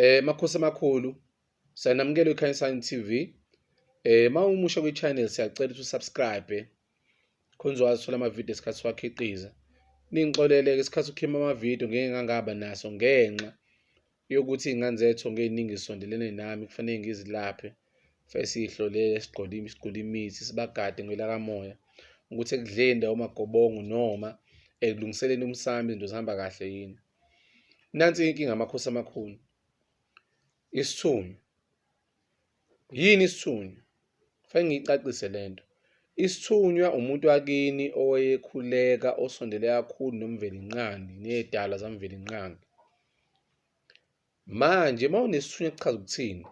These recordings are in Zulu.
Eh makhosi amakhulu sanamukela iKhanyisani TV. Eh mawumusha kwi channel siyacela ukuthi usubscribe khonze wazithola ama video esikhathi siwakhiqiza. Ningixolele ke isikhathi ukhima ama video ngeke ngangaba naso ngenxa yokuthi ingane zethu ngeziningi sondelene nami kufanele ngizilaphe. Fese sihlolele sigqoke sigqoke imithi sibagade ngelakamoya ukuthi ekudleni ndawo magobongo noma ekulungiseleni umsami izinto zihamba kahle yini. Nansi inkinga amakhosi amakhulu. Isithunywa. Yini isithunywa? Fanele ngiyicacise le nto. Isithunywa umuntu wakini owayekhuleka osondele kakhulu noMvelinqangi nezidalwa zaMvelinqangi. Manje uma unesithunywa kuchaza ukuthini?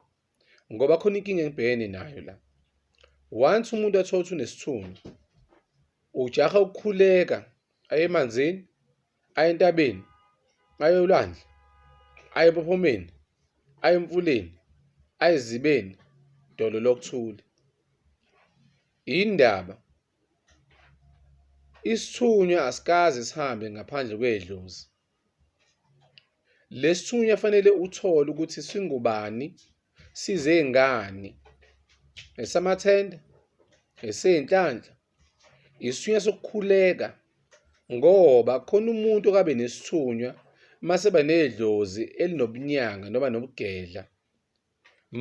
Ngoba khona inkinga engibhekene nayo la. Once umuntu athola ukuthi unesithunywa, ujaha ukukhuleka aye emanzini, aye entabeni, aye olwandle, aye empophomeni, aye emfuleni, aye ezibeni, dolo lokuthule. Yindaba isithunywa asikaze sihambe ngaphandle kwedlozi. lesithunywa fanele uthole ukuthi singubani size ngani esamathenda esezinhlanhla isithunywa sokukhuleka ngoba khona umuntu okabe nesithunywa mase banedlozi elinobunyanga noma nobugedla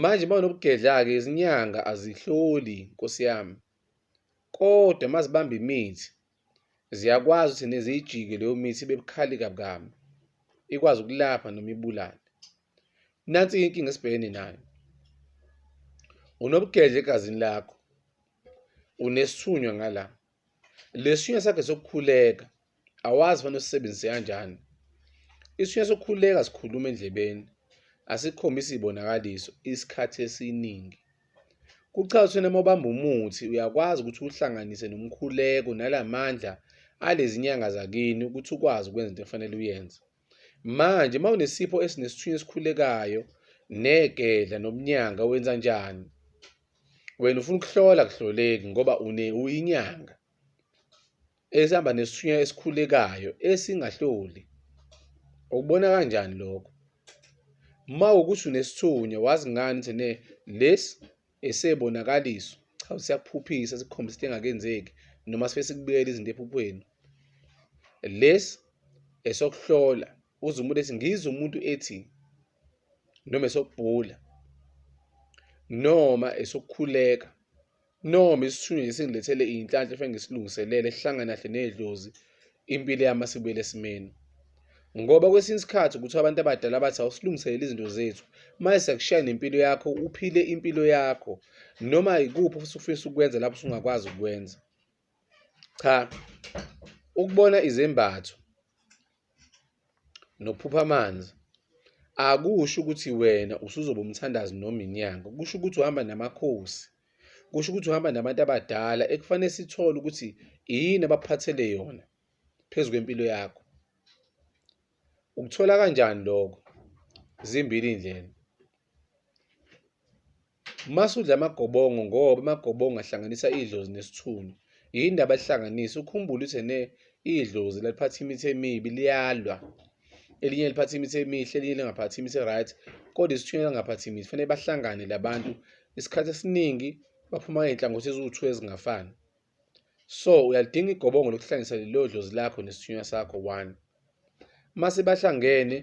manje banobugedla-ke izinyanga azihloli nkosi yami kodwa mazibamba imithi Ziyakwazi ukuthi neziyijike leyo mithi ibe bukhali kabukami ikwazi ukulapha noma ibulale nansi inkinga esibhekene nayo unobugedle egazini lakho unesithunywa ngala lesithunywa sakhe sokukhuleka awazi fanele usisebenzise kanjani isithunywa sokukhuleka sikhuluma endlebeni asikhombisi izibonakaliso isikhathi esiningi Kuchaza ukuthi noma ubamba umuthi uyakwazi ukuthi uhlanganise nomkhuleko nalamandla alezi nyanga zakini ukuthi ukwazi ukwenza into efanele uyenze. Manje uma unesipho esinesithunywa esikhulekayo negedla nobunyanga wenza njani? Wena ufuna ukuhlola kuhloleki ngoba une uyinyanga. esihamba nesithunywa esikhulekayo esingahloli ukubona kanjani lokho uma ukuthi unesithunywa wazi ngani ukuthi ne lesi esebonakaliso cha siyakuphuphisa sikukhombisa into engakenzeki noma sife sikubuyela izinto ephuphweni lesi esokuhlola uze umuntu ethi ngizwe umuntu ethi noma esokubhula noma esokukhuleka Noma isithunywa nje singilethele iy'nhlanhla efanele ngisilungiselele sihlangana kahle nedlozi impilo yami asibuyele esimeni. Ngoba kwesinye isikhathi kuthiwa abantu abadala bathi awusilungiselele izinto zethu manje siyakushaya nempilo yakho uphile impilo yakho noma yikuphi ofisa ukwenza lapho usungakwazi ukwenza. Cha, ukubona izembatho nokuphupha amanzi akusho ukuthi wena usuzoba umthandazi noma inyanga. Kusho ukuthi uhamba namakhosi. Kusho ukuthi uhamba nabantu abadala ekufanele sithole ukuthi yini abakuphathele yona phezu kwempilo yakho. Ukuthola kanjani lokho? Zimbili iy'ndlela. Masudla amagobongo ngoba amagobongo ahlanganisa idlozi nesithunzi. Yini indaba alihlanganisa? Ukhumbule ukuthi ne idlozi laliphatha imithi emibi liyalwa. Elinye liphatha imithi emihle, elinye lingaphathi imithi right. Kodwa isithunywa langaphathi imithi. Fanele bahlangane labantu. Isikhathi esiningi baphuma ngey'nhlangothi eziwu-two ezingafani. So uyalidinga igobongo lokuhlanganisa lelo dlozi lakho nesithunywa sakho one. Uma sebahlangene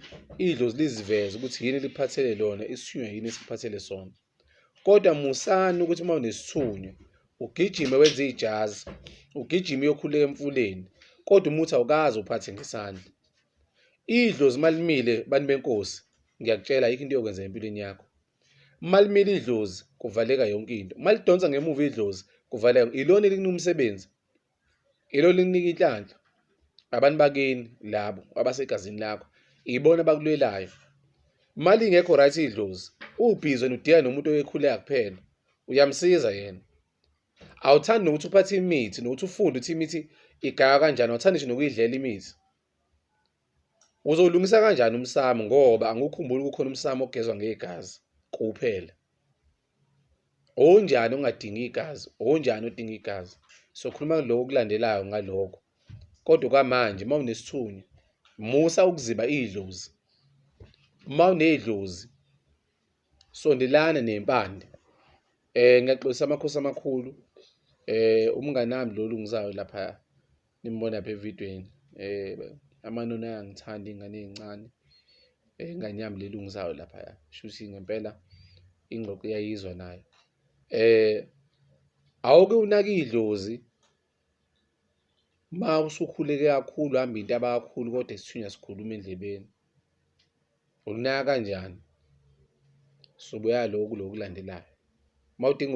idlozi liziveze ukuthi yini liphathele lona isithunywa yini esiphathele sona. Kodwa musani ukuthi uma unesithunywa ugijime wenze ijazi, ugijime uyokhuleka emfuleni, kodwa umuthi awukazi uphathe ngesandla. Idlozi malimile bantu benkosi, ngiyakutshela ayikho into yokwenza empilweni yakho. malimile idlozi kuvaleka yonke into malidonsa ngemuva idlozi kuvaleka ilona elinika umsebenzi ilona elinika inhlanhla abantu bakini labo abasegazini lakho ibona bakulwelayo mali ingekho right idlozi ubhizi wena udiya nomuntu oyekhuleka kuphela uyamsiza yena awuthandi nokuthi uphathe imithi nokuthi ufunde ukuthi imithi igaywa kanjani awuthandi nje nokuyidlela imithi Uzowulungisa kanjani umsamo ngoba angikukhumbuli kukhona umsamo ogezwa ngegazi kuphela. Onjani ongadingi igazi, onjani odinga igazi. Sokhuluma lokho okulandelayo ngaloko. Kodwa kwamanje uma unesithunywa musa ukuziba idlozi. Uma unedlozi sondelana nempande. Eh ngiyaxolisa amakhosi amakhulu. Eh umngane nami lo lungisayo lapha. nimbona lapha evidweni eh amanoni ayangithanda ingane ezincane eh, ingane yami lelungisayo lapha ya shuthi ngempela ingxoxo iyayizwa nayo eh awuke unaka idlozi ma usukhuleke kakhulu hamba into abakhulu kodwa isithunywa sikhuluma endlebeni ukunaka kanjani subuya lokhu lokulandelayo uma udinga